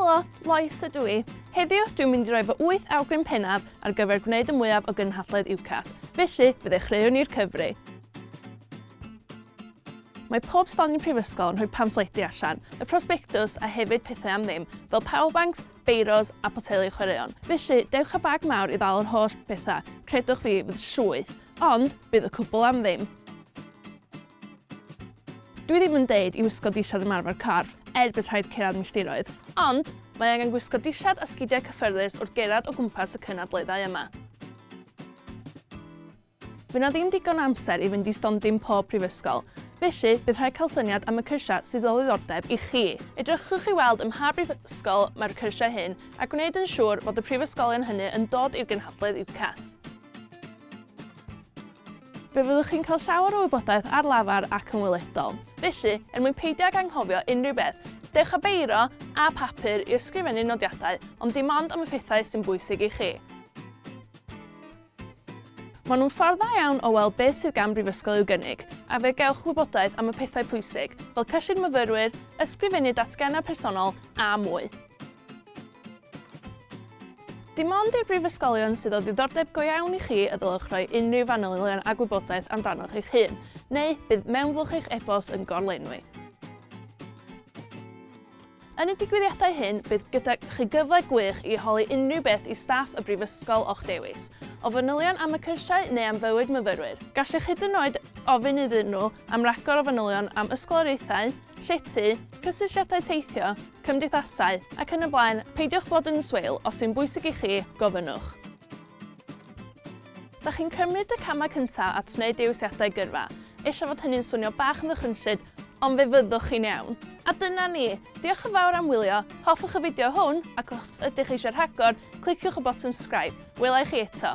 Helo, Lois ydw i. Heddiw, dwi'n mynd i roi fy wyth awgrym pennaf ar gyfer gwneud y mwyaf o gynhadledd UCAS, felly fe ddechreuwn ni'r cyfri. Mae pob stondin prifysgol yn rhoi pamffledi allan, y prosbectws a hefyd pethau am ddim, fel powerbanks, beiros a boteli chwaraeon. Felly, dewch â bag mawr i ddal yr holl bethau, credwch fi, fydd llwyth, ond bydd y cwbl am ddim. Dwi ddim yn deud i wisgo dillad ymarfer corff er bydd rhaid cyrraedd milltiroedd, ond mae angen gwisgo dillad a sgidiau cyffyrddus wrth gerdded o gwmpas y cynadleddau yma. Fydd na ddim digon o amser i fynd i stondin pob prifysgol, felly bydd rhaid cael syniad am y cyrsiau sydd o ddiddordeb i chi. Edrychwch i weld ym mha brifysgol mae'r cyrsiau hyn a gwneud yn siŵr fod y prifysgolion hynny yn dod i'r gynhadledd UCAS. Fe fyddwch chi'n cael llawer o wybodaeth ar lafar ac yn weledol. Felly, er mwyn peidio ag anghofio unrhyw beth, dewch â beiro a phapur i ysgrifennu nodiadau, ond dim ond am y pethau sy'n bwysig i chi. Maen nhw'n ffordd dda iawn o weld beth sydd gan brifysgol i'w gynnig, a fe gewch wybodaeth am y pethau pwysig, fel cyllid myfyrwyr, ysgrifennu datgennau personol, a mwy. Dim ond i'r brifysgolion sydd o ddiddordeb go iawn i chi y ddylech roi unrhyw fanylion a gwybodaeth amdanoch eich hun, neu bydd mewnflwch eich e-bost yn gorlenwi. Yn y digwyddiadau hyn, bydd gyda chi gyfle gwych i holi unrhyw beth i staff y brifysgol o'ch dewis, o fanylion am y cyrsiau neu am fywyd myfyrwyr. Gallwch hyd yn oed ofyn iddyn nhw am ragor o fanylion am ysgoloriaethau, llety, cysylltiadau teithio, cymdeithasau, ac yn y blaen, peidiwch fod yn swil, os yw'n bwysig i chi, gofynnwch. Da chi'n cymryd y camau cyntaf at wneud dewisiadau gyrfa, ella fod hynny'n swnio bach yn ddychrynllyd, ond fe fyddwch chi'n iawn. A dyna ni! Diolch yn fawr am wylio, hoffwch y fideo hwn, ac os ydych eisiau rhagor, cliciwch y botwm subscribe. Wela i chi eto!